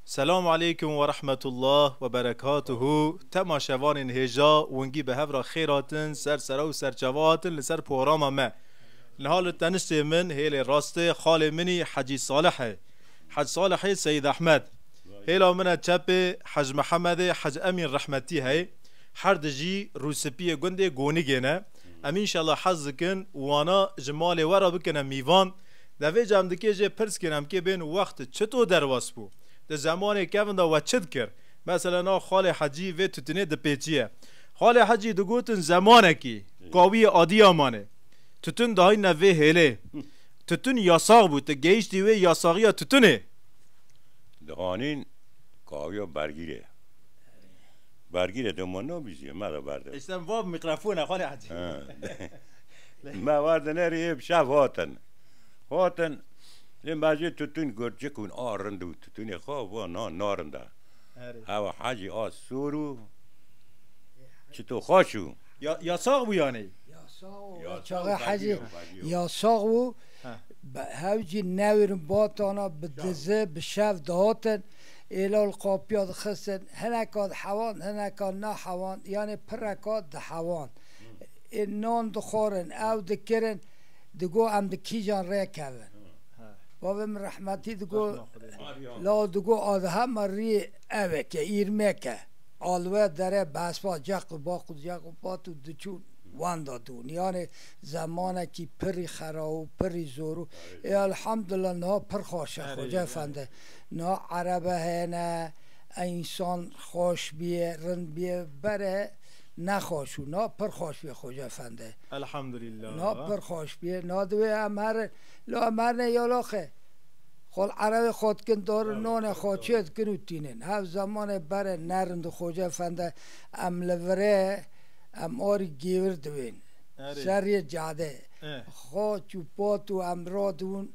Selam aleykum werahmetullah weberekatuhu Tema şevanên hêja wingî bi hev re xêr hatin ser sere û serçava hatin li ser porama me. Niha li tenistê min hêlê rastê xalê min î Hecî Salih e. Hec Salihê Seyîd Ehmed. Hêla min e çepê Hec Mihemedê Hec Emîn Rehmetî heye. Her di jî rûspiyê gundê Gonigê ne. Em înşela hez dikin wana ji malê we re bikine mîvan. Devê cem dikê jê pirs kirin em kê bên û wext çito derwas bû? Di zemanê kevn de we çi dikir? Mesele na Xalê Hecî vê tutinê dipêçiye. Xalê Hecî digotin zemanekî kawiyê Adiyaman ê. Tutin dihayîne vê hêlê. Tutin yasax bû, ti gehîştî wê yasaxiya tutinê? Dihanîn kawiya bergîrê ye. Bergîrê dema nabîziye me de berde. Îşte va mikrofona Xalê Hecî. Me vat nerî ê bi şev hatin. Hatin lê me jî tutûn got cik hûn a rind û tutûnê xwe va na narind e. Hewa hecî a sor û çito xweş û. Ya ya sax bû yanî? Ya sax û ya çaxê hecî ya sax û hewcî newêrin batana bi dizi bi şev dihatin êla li qapiya dixistin hineka dihewan hineka nahewan yanê pireka dihewan. Ên non dixorin, ew dikirin, digot em bi kîjan rê kevin. Bavê min rehmetî digot, Lal digot Adhem a rî ev e ke îrmek e. Alwe dere bi hespa ceq û baq û ceq û pat û diçûn wenda dûn. Yanê zemanekî pirrî xera û pirrî zor û ê elhamdullah niha pir xweş e Xwece Efendi. Niha erebe hene, ensan xweş bîye, rind bîye. Bere. Ne xweş û na pir xweş bê Xwecê Efendi. Elhamdulillah. Na pir xweş bê, na divê em herin. Lo em herin ê yoloxê. Xwe li erewê xwe dikin, dorin nonê xwe çê dikin û tînin. Hev zemanê berê ne rind û Xwecê Efendi em li virê em arî gêvir divên. Seriyê cadê. Xaç û pat û em ra dibûn.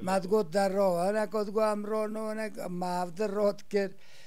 Me digot der ra. Hineka digot em ra ne hinek me hevdil ra dikir.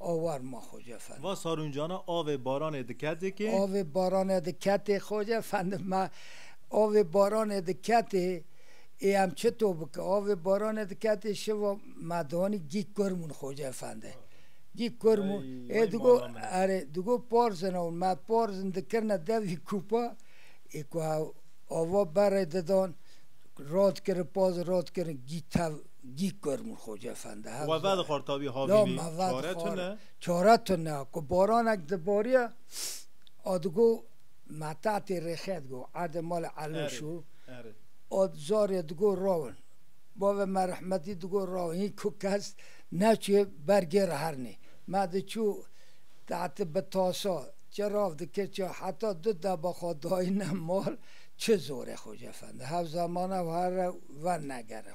Awar ma xo je fendim. Va sarûncana avê baranê diketê kê. Avê baranê diketê xo je fendim ma. Avê baranê diketê ê em çi to bike. Avê baranê diketê şiva me danî gîg kurmûn xo je fendi. Gîg kurmûn ê digo erê digo parzin ew me parzin dikirine devî kûpa ê ku ava berê didan rad kirin parzin rad kirin gîg tev. Dîkor Mirxoc Efendi hevze. Weve dixwar tavî havînî çare tune. Çare tune ku baranek dibariya a digo metatê rêxê digo erdê malê Eloş û a zarê digo rawin. Bavê me rehmetî digo rawin hîn ku kes neçûye ber gê re hernê. Me diçû tehtê bi tasa çi rav dikir çi heta du deba xwe dayîne mal çi zor e Xoc Efendi hevze mane û herre wernegere.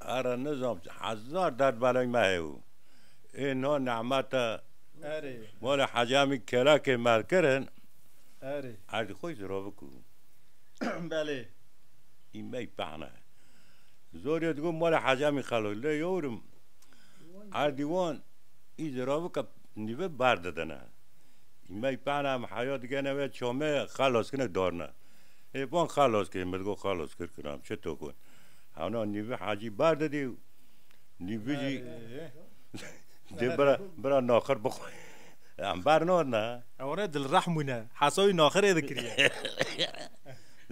Ara nizam hezar derd beleng me heye û ê niha nehmete mala Hacî Emîn Kelakê merkirin erdê xwe jî ravik û. Belê. Î mey pehna ye. Zorê digot mala Hacî Emîn Kelak lê yewrim erdî wan î jî ravike nîve ber didine. Î mey pehna em heya digene wê çamê xelas kine darine. Ê van xelas kir min digot xelas kir kir em çi tokon. Hewna nîvî hacî bar didî û nîvî jî dê bira bira naxir bixwe. Em bar nadin ha. Ew re dilrehm bûne. Hesa wî naxirê dikiriye.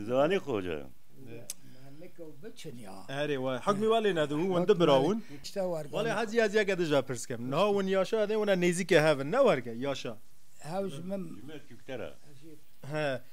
Ziwanî xweş e. Erê wa hikmî wa lê nedibû win du bira bûn. Welê hacî ez yeke dija pirs dikim. Niha win yaşa edê wina nêzîkê hev in ne werge yaşa. Hew ji min. Ji me çûkter e. He.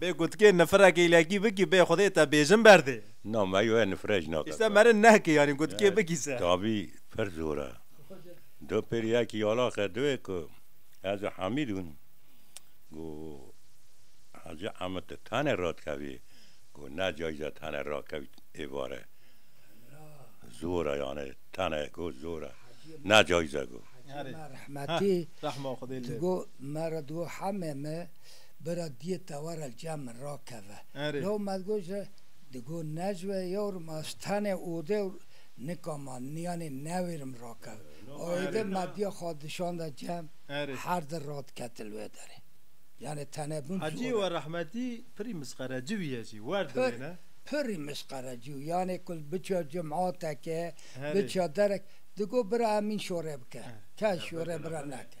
Bê gutkê nifirekê îlekî bikî bê xwedê te bêjin berdê. Na me yoya nifire jî nake. Îse merin nehkê yanî gutkê bikî se. Tabî pir zor e. Du pêrî yekî yalaxe diwê ku ez û Hemîd bûn. Got Hacî Hemîd tu tenê radikevî? Got ne cayîze tenê rakevî êvarê. Zor e yanî tenê got zor e. Ne cayîze got. Hacî me rehmetî digot me re digot Hemê me. bira diyê tewara ciya min rakeve. Law me digot ji digo necve yewrim ez tenê ode û nika ma niyanê newêrim rakev. Êdî me diya xwe dişanda cem her di radiketi li wê derê. Yanê tene bûn zor e. Hacî we rehmetî pirî misqereci bûye jî wer di wê ne. Pirî misqereci û yanê ku biçiya cum'ateke, biçiya derek digot bira Emîn şore bike. Kes şore bira neke.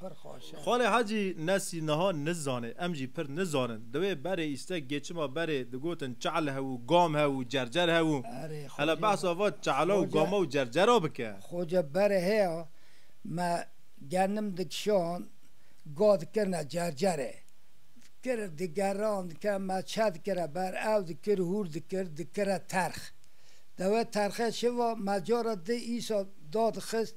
pir xweş e. Xalê Hecî Nesî niha nizanê, em jî pir nizanin. Di wê berê îstek yê çima berê digotin çehl hev û gam hev û cercer hev û. Erê xoce. Hele behsa va çehla û gama û cercera bike. Xoce berê heya me genim dikişand ga dikirine cercerê. Dikir digeran dikir me çe dikire ber ew dikir hûr dikir dikire terx. Dewê terxê şiva me cara di îsa dadixist.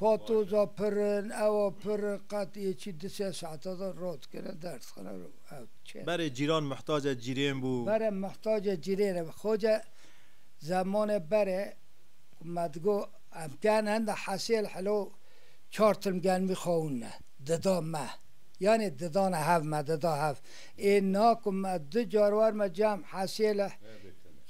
Patoza pir in, ewa pir in, qet yê çi du sê saeta de rot dikine ders dixine û ew diçe. Berê cîran mihtaca cîrên bû. Berê mihtaca cîrên e. Xoca zemanê berê ku me digot em tên henda hesê li helo çar tim gelmî xewinine dida me. Yanê didane hev me dida hev. Ê na ku me du car werime cem hesê li.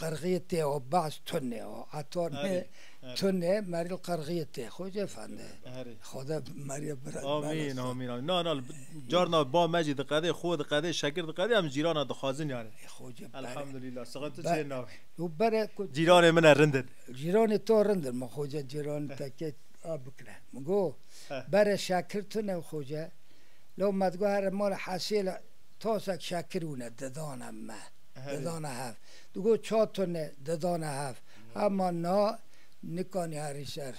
Qerxiyê têo baş tunêo ato nê tunê meril qerxiyê tê xo jê fende. Xoda meriyê bira. Amin amin amin. Na na carna ba me jî diqedê xo diqedê şekir diqedê em cîrana dixwazin yani. Elhamdülillah sıxatı çê navi. Cîranê min e rindin. Cîranê to rindin ma xoca cîran tekê a bikire. Min go bere şekir tune xoca. Lo me digo here mala hesêla tosek şekir wune didana me. dedane hev. Digot çar tune dedane hev. Hema na nikanî herî ser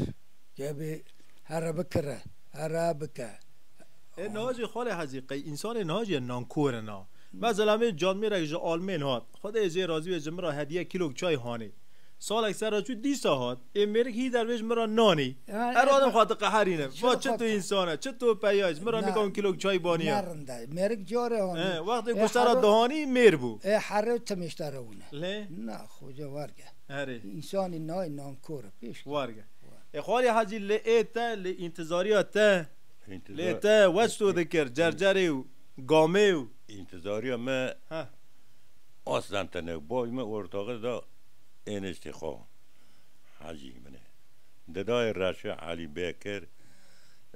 kevbî here bikire, here bike. Ê niha jî Xalê Hezî qey însanê niha jî nankor e na. Mezelem ê canmêrek ji Almên hat. Xwedê jê razî be ji min re hediye kîlok çay hanê. Salek ser re çû dîsa hat. Ê mêrik hî dervêj min re nanî. Her adem xwe diqeherîne. Va çi tu însan e, çi tu peyay, ji min re nika win kîlok çay baniya. Nerind e. Mêrik carê anî. He, wextê ku ser re dihanî mêr bû. Ê herê û timêşte re win e. Lê? Na, xoca werge. Herê. Însanî nayê nankor e, pêş keve. Werge. Ê Xalî Hecî lê ê te, lê întizarîya te, lê te weç to dikir, cercerê û gamê û. Întizarîya me. Heh. Aslan tenê bavê min ortaxê da êniştê xwe hecî min e. Di dayê reşê Elî Bekir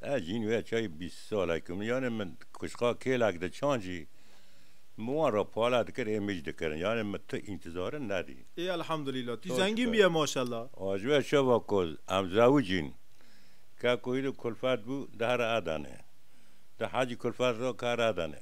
ez jîn wê çayê bîst salek im. Yanê min kuşka kêlek di çand jî min wan re pale dikir ê mij dikirin. Yanê min tu întizare nedî. Ê elhamdulîla tu zengîn bûye maşella. Aciwe şeva ku em zewij in ke ku îro kulfet bû di here Adanê. Di hecî kulfet ra kar Adanê.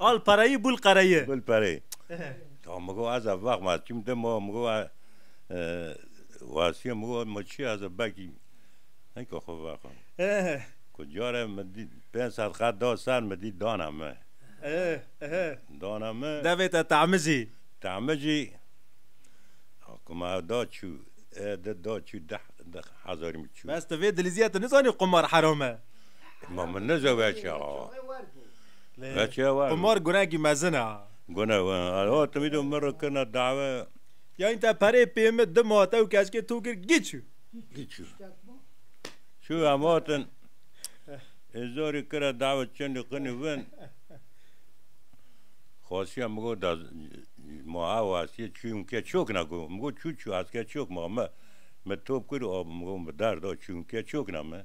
Al pereyî bul qereyî. Bul pereyî. Ya min got ez ê vex ma çîm de ma min got Wasîye min got ma çi ez ê vekî heke xwe vexa. Ku carê min dît pênc sed qat da ser min dît dana min. Dana min. Devê te temicî. Temicî. Ku ma ew da çû ê di da çû deh hezarî min çû. Bes tu vê dilîzîye tu nizanî qumar heram e. Ma min neca veçe ha. Veçe var. Qumar gunekî mezin a. Gune we. Alo tu vîdo min re kirina dave. Yan te perê pê min di mate û keşkê to kir giçû. Giçû. Çû em hatin. Ê zorî kira dave çendî qinî vin. Xasiya min got da ma ew asiyê çû min ke çok na got. Min got çû çû aske çok ma me. Me top kir û min got bi dar da çû min ke çok na me.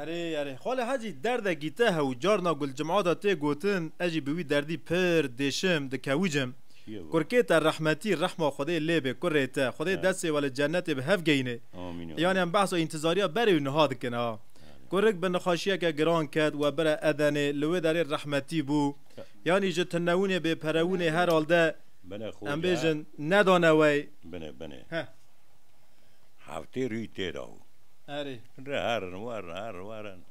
Erê erê xalê hecî derde gîte hew carna gulcim'a de tê gotin ez jî bi wî derdî pir dêşim dikewicim. Kurkê te rehmetî rehma Xwedê lê bê kurê te Xwedê destê we li cenetê bi hev geyne. Yanyan behsa întizariya berê û niha dikin a. Kurik bi nixaşiyeke giran ket we bire Edenê li wê derê rehmetî bû. Yanî ji tinewinê bê perewinê herhalde em bêjin nedane wey. Heftê rûyî tê da û. Erê. Re herin werin herin werin.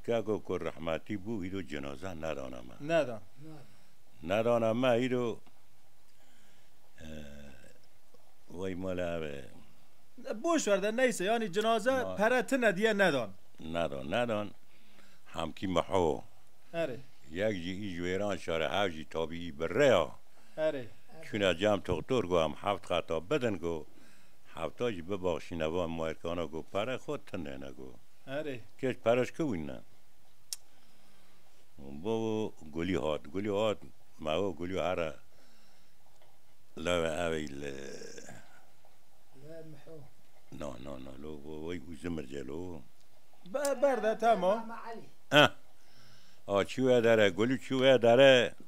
Keko ku rehmetî bû îro cenaze nedana me. Neda. Nedana me îro wey mala ev e. Boş ver de neyse yanî cenaze pere tine diye nedan. Nedan nedan hemkî miho. Erê. Yek jî î ji wêran şare hev jî tabîî bi rê ya. Erê. Çûna cam toxtor go em heft qata bidin go hefta jî bibaxşîne van moerkana go pere xwe tindêne go. Erê. Kêç pere ji ku wînne. Bo gulî hat. Gulî hat mewa gulî here lewe ew ê li Na na na lo wey û zimirce lo. Berde temo. Eh. A çûye dere gulî çûye dere.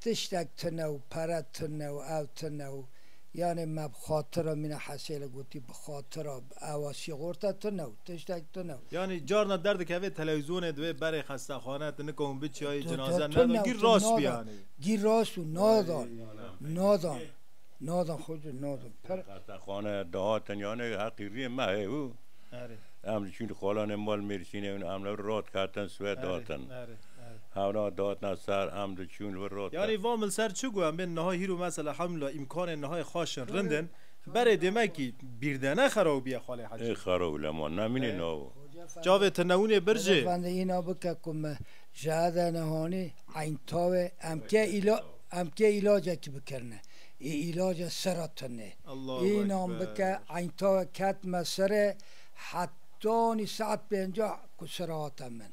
Tiştek tune û pere tune û ew tune û yanê me bi xatira mîna Hesêle gotî bi xatira ewa şîxorte tune û tiştek tune û. Yanî carna derdikevê telewîzyonê divê berê xestexane tu nikewin biçiyayî cinaze neda gîr rast bû yanî. Gîr rast bû nadan nadan nadan xoci nadan per. Xestexane dihatin yanê heqî rîyê me heye û em diçûn xalanê mal Mêrsînê û em li vir radiketin swêd datin. Hewna datna ser em diçûn vir rot de. Yanî vam li ser çi got? Em bên niha hîr û mesela hemûla îmkanên nihayê xweş in, rind in. Berê demekî bîr de ne xerab bûye Xalê Hecî. Ê xerab bû lema nemînê nava. Çavê tinewûnê bir jê. Efendi îna bike ku me jehede nehanî eyn tawê em kê îla em kê îlacekî bikirine. Ê îlace sera tunê. Înan bike eyn tawê ketime serê hetanî saet pêncah ku sera hate min.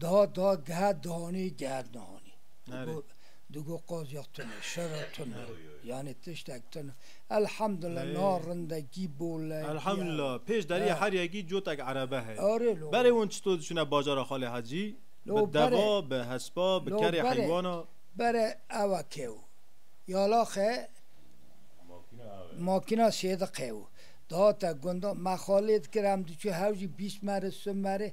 Daha da geha dihanî geha nihanî. Digo digo qazya tune, şera tune. Yanî tiştek tune. Elhamdulillah niha rindekî bol e. Elhamdulillah pêş deriyê Heryagî cotek erebe heye. Arê lo. Berê wan çito diçune bajara Xalê Hecî? Lo berê. Bi deva, bi hespa, bi kerê heywana. Lo berê, berê ewa kew. Yalaxe makîna sêdi qew. Dihate gundan me xalê dikir em diçû hewcî bîst merê, si merê.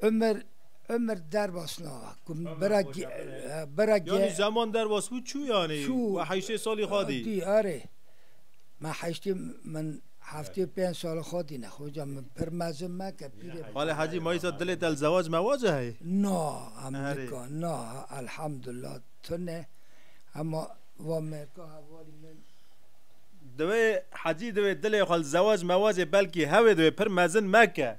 Ömer Ömer derbas na ku bera bera Yani zaman derbas bû çû yani we heştê salî xwe dî. Dî arê me heştê min heftê pênc salî xwe dî ne xoca min pir mezin me ke pîrê. Bale hecî mayîsa dilê te li zewac mewace heye? Na em nika na elhamdulillah tune hema va mêrka hevalî min. Divê hecî divê dilê xwe li zewac mewacê belkî hewê divê pir mezin meke.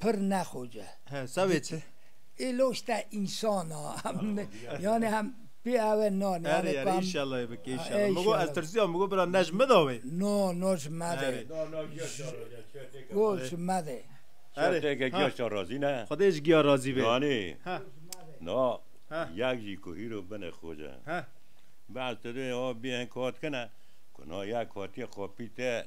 pir ne xoce. He savê çi? Ê loşte insana yani hem pê eve nan. Erê erê inşallah bike inşallah. Migo ez tirsiya migo bira nej mi da wê. No no ji me de. Go ji me de. Erê teke giya şa razî ne. Xwedê ji giya razî be. Nanê. Ha. Na yek jî ku hîro bine xoce. Ha. Baz tu dê o bê hin kat kine. Ku na yek hatiye qapî te.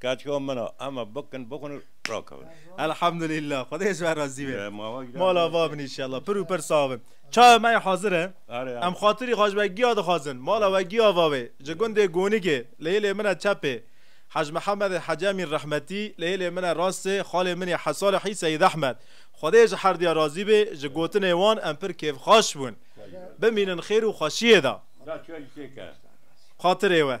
Kaçka min a, hema bikin, bixwin û rakevin. Elhamdulîllah, Xwedê ji we razî be. Mala va bin înşellah pir û pir sax bin. Çaye me yê hazir e. Em xatirî Haj Wegiya dixwazin. Mala Wegiya va wê. Ji gundê Gonigê, li hêlê min e çepê. Haj Mihemedê Hecemîn rehmetî, li hêlê min e rastê, xalê min yê Haj Salihî Seyîd Ehmed. Xwedê ji her diya razî bê, ji gotinê wan em pir kêfxaş bûn. Bimînin xêr û xweşiyê de. Xatirê we.